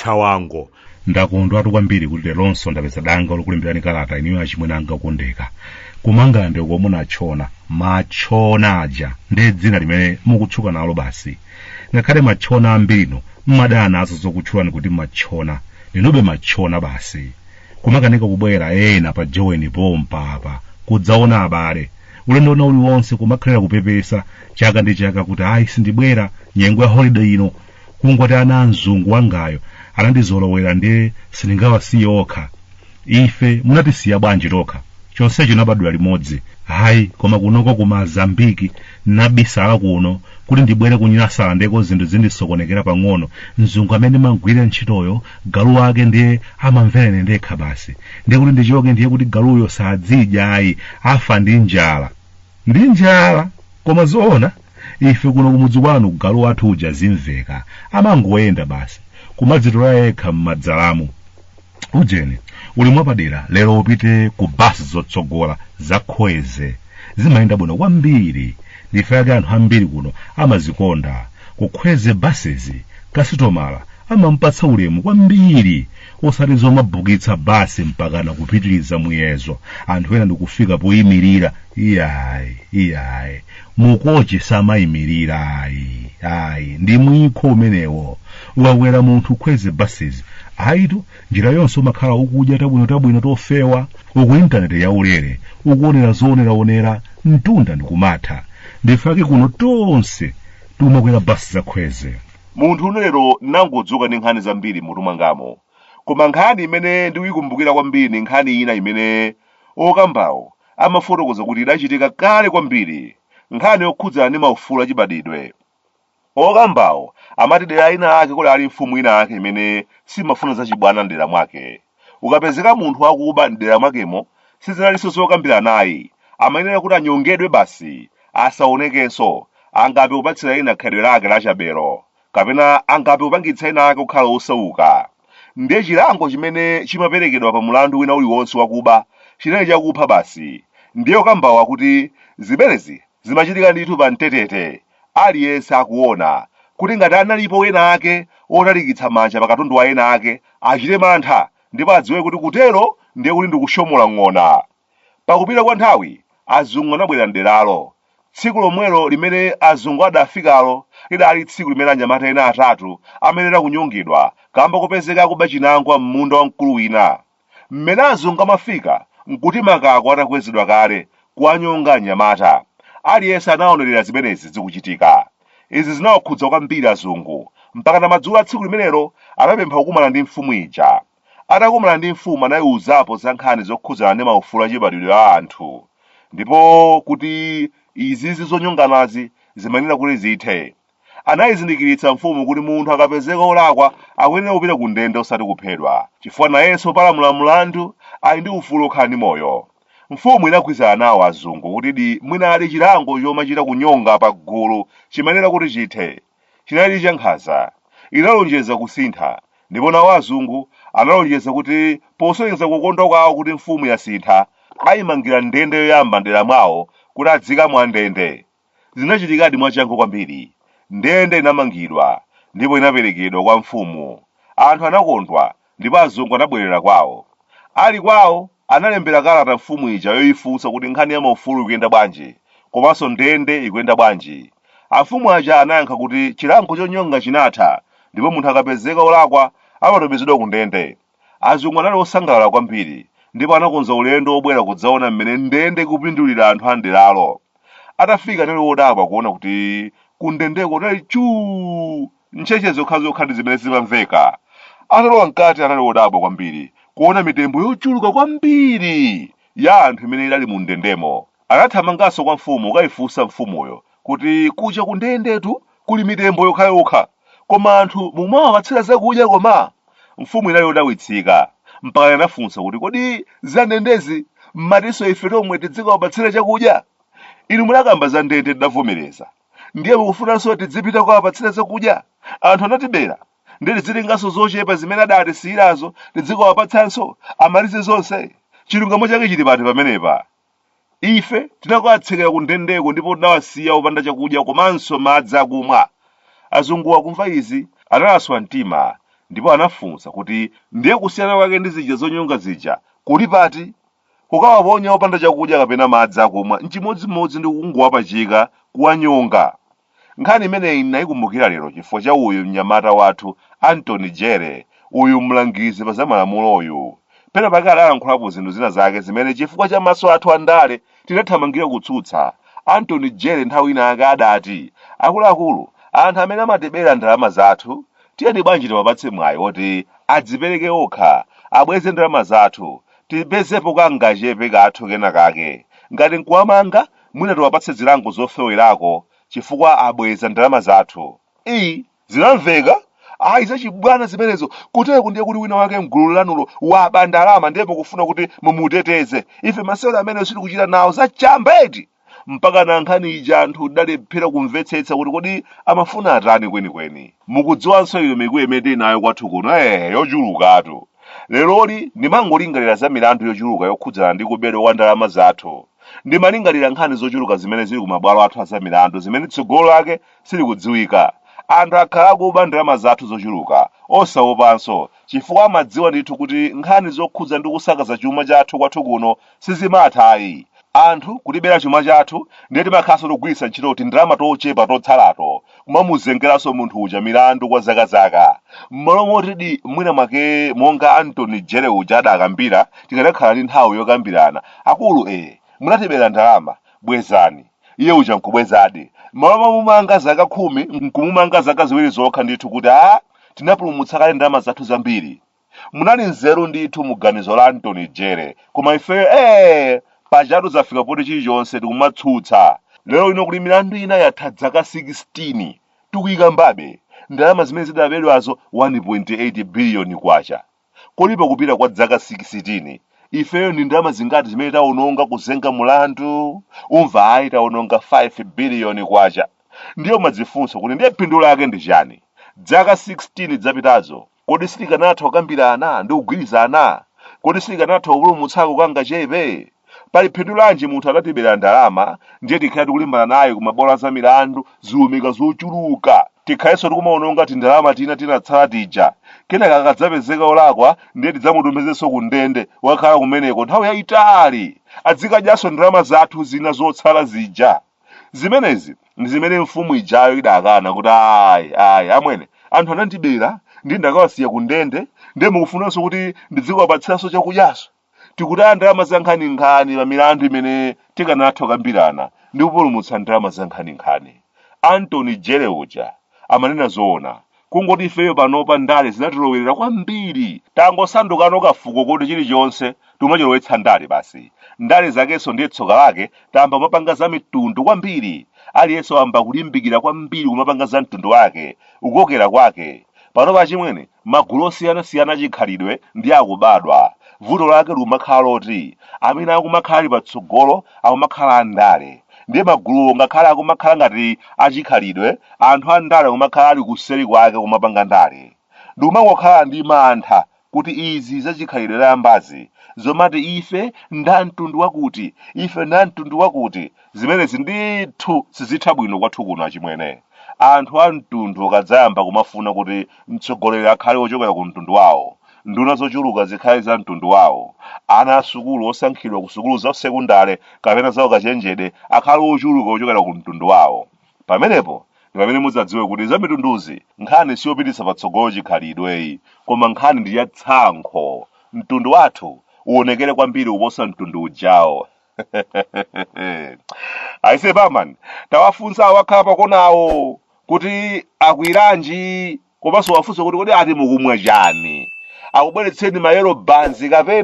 chawango ndakondwatu kwambiri kuti leronso ndapeza danga lokulemberani kalata inuyo achimwene anga okondeka ku mangalande uko munatchona matchona aja ndi dzina limene mukutchuka nalo basi ngakhale matchona ambirinu mmadana nazo zokutchulani kuti matchona ndinube matchona basi kumakanika kubwera ena pa joweni pompa apa kudzaona abale ulendo wina uliwonse kumakhalira kupepesa chaka ndi chaka kuti ayi sindibwera nyengo ya holiday ino kungoti ana amzungu wangayo anandizolowera ndiye sindingawasiye okha ife munatisiya bwanji tokha chonsecho nabadwa limodzi hayi koma kunoko ku mazambiki nabisala kuno kuti ndibwere kunyasalandeko zinthu zindisokonekera pang'ono mzungu amene ndimagwirira ntchitoyo galu wake ndiye amamvera ine ndekha basi ndiye kuti ndichoke ndiye kuti galuyo sadzidya ayi afa ndi njala ndi njala koma zoona ife kuno kumudzi kwanu galu wathu uja zimveka amangoyenda basi kumadzitola yekha m'madzalamu ujeni ulemu wapadera lero upite ku basi zotsogola za kwezy zimayenda bwino kwambiri nchifukwa chake anthu ambiri kuno amazikonda ku kwezy buses kasitomala amampatsa ulemu kwambiri osati zomabukitsa basi mpakana kupitiriza muyezo anthu ena ndikufika poyimirira iyayi iyayi mukochi samayimirira ayi ayi ndi mwikho umenewo ukakwera munthu kwezy buses ayitu njira yonse umakhala ukudya tabwino tabwino tofewa uku intaneti yaulere ukuonera zooneraonera mtunda ndikumatha nchifukwa chake kuno tonse timakwera basi za kwezy munthune lero nangodzuka ndi nkhani zambiri m'mutu mwangamo koma nkhani imene ndikuyikumbukira kwambiri ndi nkhani ina imene okambawo amafotokoza kuti idachitika kale kwambiri nkhani yokhudzana ndi maufulu achibadidwe okambawo amati dera ina ake kudaali mfumu ina ake imene simafuna zachibwana mdera mwake Ukapezeka munthu akuba m'dera mwakemo sizinalinso zokambirana ayi, amayenera kuti anyongedwe basi, asaonekenso, angathe kupatsira ena khalidwe lake lachabelo, kapena angathe kupangitsa ena ake kukhala osauka. Ndiye chilango chimene chimaperekedwa pa mlandu wina uliwonse wakuba chinali chakupha basi. Ndiye okambawo akuti zimenezi Zimachitika ndithu pa mtetete, aliyense akuona, kuti ngati analipo ena ake otalikitsa manja pa katundu wa ena ake, achite mantha, ndipo adziwe kuti kutero ndiye kuti ndi kushomola ng'ona. Pakupita kwa nthawi, azungu anabwera m'deralo. Tsiku lomwelo limene azungu adafikalo lidaali tsiku limene anyamata ena atatu amayenera kunyongedwa kamba kopezeka akuba chinangwa m'munda wa mkulu wina. Mmene azungu amafika n'kuti makako atakwezedwa kale, kuwanyonga anyamata. Aliyense anaonerera zimenezi zikuchitika. Izi zinawakhudza kwambiri azungu, mpakana madzulo a tsiku limenelo anapempha kukumana ndi mfumu ija. Atakumana ndi mfumu anaiuzapo za nkhani zokhudzana ndi maufulu achibadwidwe a anthu, ndipo kuti izizi zonyonganazi zimayenera kuti zithe. Anaizindikiritsa mfumu kuti munthu akapezeka olakwa akuyenera kupita ku ndende osati kuphedwa, chifukwa nayenso opalamula mlandu ali ndi ufulu okhala ndi moyo. Mfumu inagwirizana nawo azungu kutidi mwinadi chilango chomachita kunyonga pa gulu chimayenera kuti chithe. Chinalidi cha nkhanza. Inalonjeza kusintha, ndipo nawo azungu analonjeza kuti posonyeza kukondwa kwawo kuti mfumu yasintha, aimangira ndende yoyamba m'dera mwawo kuti adziikamo andende. Zinachitikadi mwachangu kwambiri. Ndende inamangidwa ndipo inaperekedwa kwa mfumu. Anthu anakondwa ndipo azungu anabwerera kwawo. Ali kwawo, analembera kalata mfumu ija yoifunsa kuti nkhani ya maufulu ikuyenda bwanji, komanso ndende ikuyenda bwanji. Amfumu aja anayankha kuti chilango chonyonga chinatha ndipo munthu akapezeka olakwa amatumizidwa kundende. Azungu anali osangalala kwambiri ndipo anakonza ulendo wobwera kudzaona mmene ndende ikupindulira anthu a m'deralo. Atafika anali odabwa kuona kuti kundendeko kunali chuu! Ntchetche zokhazokha ndi zimene zimamveka. Atalowa mkati anali odabwa kwambiri kuona mitembo yochuluka kwambiri ya anthu imene idali mundendemo. Anathamanganso kwa mfumu kukaifunsa mfumuyo kuti, Kuja kundendetu kuli mitembo yokhayokha, koma anthu mumawapatsira zakudya koma? Mfumu inali yodabwitsika, mpaka anafunsa kuti, Kodi za ndendezi m'matinso ife tomwe tidzikawapatsira chakudya? Inu munakamba za ndende tidavomereza, ndiye mukufunanso tidzipita kukawapatsira zakudya? Anthu anatibera, ndiye tidzitenganso zochepa zimene adatisiyirazo, tidzikawapatsanso, amalize zonse? Chilungamo chake chili pati pamenepa? Ife tinakawatsekera kundendeko ndipo tinawasiya opanda chakudya komanso madzi akumwa. Azungu akumva izi, analaswa mtima ndipo anafunsa kuti, Ndiye kusiyana kwake ndi zija zonyonga zija kuli pati? Kukawaponya opanda chakudya kapena madzi akumwa n'chimodzimodzi ndi kungowapachika, kuwanyonga. Nkhani imeneyi n'naikumbukira lero chifukwa cha uyu mnyamata wathu Anthony Jere, uyu mlangizi pa zamalamuloyu. Pena pake adalankhulapo zinthu zina zake zimene chifukwa cha maso athu andale tinathamangira kutsutsa. Anthony Jere nthawi ina yake adati, Akuluakulu, anthu amene amatibera ndalama zathu, tiyeni bwanji tiwapatse mwayi woti adzipereke okha, abweze ndalama zathu, tipezepo kangachepe kathu kena kake. Ngati n'kuwamanga, mwina tiwapatse zilango zofewerako chifukwa abweza ndalama zathu. ii zinamveka ayi zachibwana zimenezo kutereku ndiye kuti wina wake mgulu lanulo waba ndalama ndiye mukufuna kuti mumuteteze ife masewero amenewo sitikuchita nawo zachamba eti mpaka na nkhani ija anthu tidalephera kumvetsetsa kuti kodi amafuna atani kwenikweni mukudziwanso iyo mikuyu imene tili nayo kwathu kuno eh yochulukatu leroli ndimangolingalira za milandu yochuluka yokhudzana ndi kubedwa kwa ndalama zathu Ndimalingalira nkhani zochuluka zimene zili kumabwalo athu azamilandu zimene tsogolo lake silikudziwika. Anthu akhala akuba ndalama zathu zochuluka, osawopanso, chifukwa amadziwa ndithu kuti nkhani zokhudza ndi kusakaza chuma chathu kwathu kuno sizimatha ayi. Anthu kutibera chuma chathu ndiye timakhalanso tikugwiritsa ntchito tindalama tochepa totsalato kumamuzengeranso munthu uja milandu kwa zaka zaka m'malo motidi mwina mwake monga antony jere uja adakambira tikadakhala ndi nthawi yokambirana akulu ee munatibera ndalama bwezani iye uja nkubwezadi m'malo momumanga zaka khumi nkumumanga zaka ziwiri zokha ndithu kuti a tinapulumutsa kale ndalama zathu zambiri Munali nzeru ndithu mu ganizo la Anthony Jere koma ifeyo ee! Pajatu zafika poti chilichonse tikumatsutsa. Lero lino kuli milandu ina yatha dzaka 16 tikuyikambabe, ndalama zimene zidabedwazo 1.8 biliyoni kwacha. Kodi pakupita kwa dzaka 16 ifeyo ndi ndalama zingati zimene tawononga kuzenga mulandu? Umva ayi tawononga 5 biliyoni kwacha. Ndiye umadzifunsa kuti ndiye phindu lake ndi chani? Dzaka 16 dzapitazo Kodi sitikanatha kukambirana ndi kugwirizana? Kodi sitikanatha kupulumutsako kangachepe? Pali phindu lanji munthu adatibera ndalama ndiye tikhale tikulimbana naye ku mabwalo a zamilandu zilumika zochuluka? Tikhalenso tikumawononga tindalama tina tinatsala tija. Kenaka akadzapezeka wolakwa ndiye tidzamutumizenso kundende kukakhala kumeneko nthawi yayitali. Adzikadyanso ndalama zathu zina zotsala zija. zimenezi ndi zimene mfumu ijayo idakana kuti ayi ayi amwene anthu anandibera ndi ndakawasiya ku ndende ndiye mukufunanso kuti ndidzikawapatsiranso chakudyaso tikutaya ndalama za nkhaninkhani pa milandu imene tikanatha kukambirana ndi kupulumutsa ndalama za nkhaninkhani antony jere uja amanena zoona kungoti ifeyo panopa ndale zinatilowerera kwambiri tangosandukano kafuko koti chilichonse tumachilowetsa ndale basi ndale zakenso ndiye tsoka lake tayamba kumapanga za mitundu kwambiri aliyense wayamba kulimbikira kwambiri kumapanga za mtundu wake kukokera kwake panopa achimwene magulu osiyanasiyana achikhalidwe ndiye akubadwa vuto lake likumakhala loti amene akumakhala ali patsogolo akumakhala andale ndiye maguluwo ngakhale akumakhala ngati achikhalidwe anthu a ndale akumakhala ali kuseri kwake kumapanga ndale ndikumangokhala ndi mantha kuti izi zachikhalidwe zayambazi zomati ife nda mtundu wakuti ife nda mtundu wakuti zimenezi ndithu sizitha bwino kwathu kuno achimwene anthu a mtundu akadzayamba kumafuna kuti mtsogoleri akhale ochokera ku mtundu wawo nduna zochuluka zikhale za mtundu wawo ana asukulu osankhidwa ku sukulu za sekundale kapena za ukachenjede akhale ochuluka ochokera ku mtundu wawo pamenepo ndi pamene mudzadziwe kuti za mitunduzi nkhani siyopititsa patsogolo chikhalidweyi koma nkhani ndi ya tsankho mtundu wathu uonekere kwambiri kuposa mtundu ujawo aise barman tawafunsa awakhala pakonawo kuti akwiranji komanso uwafunse kuti kodi ati mukumwa chani akubweretsereni ma yellow banzi kapena.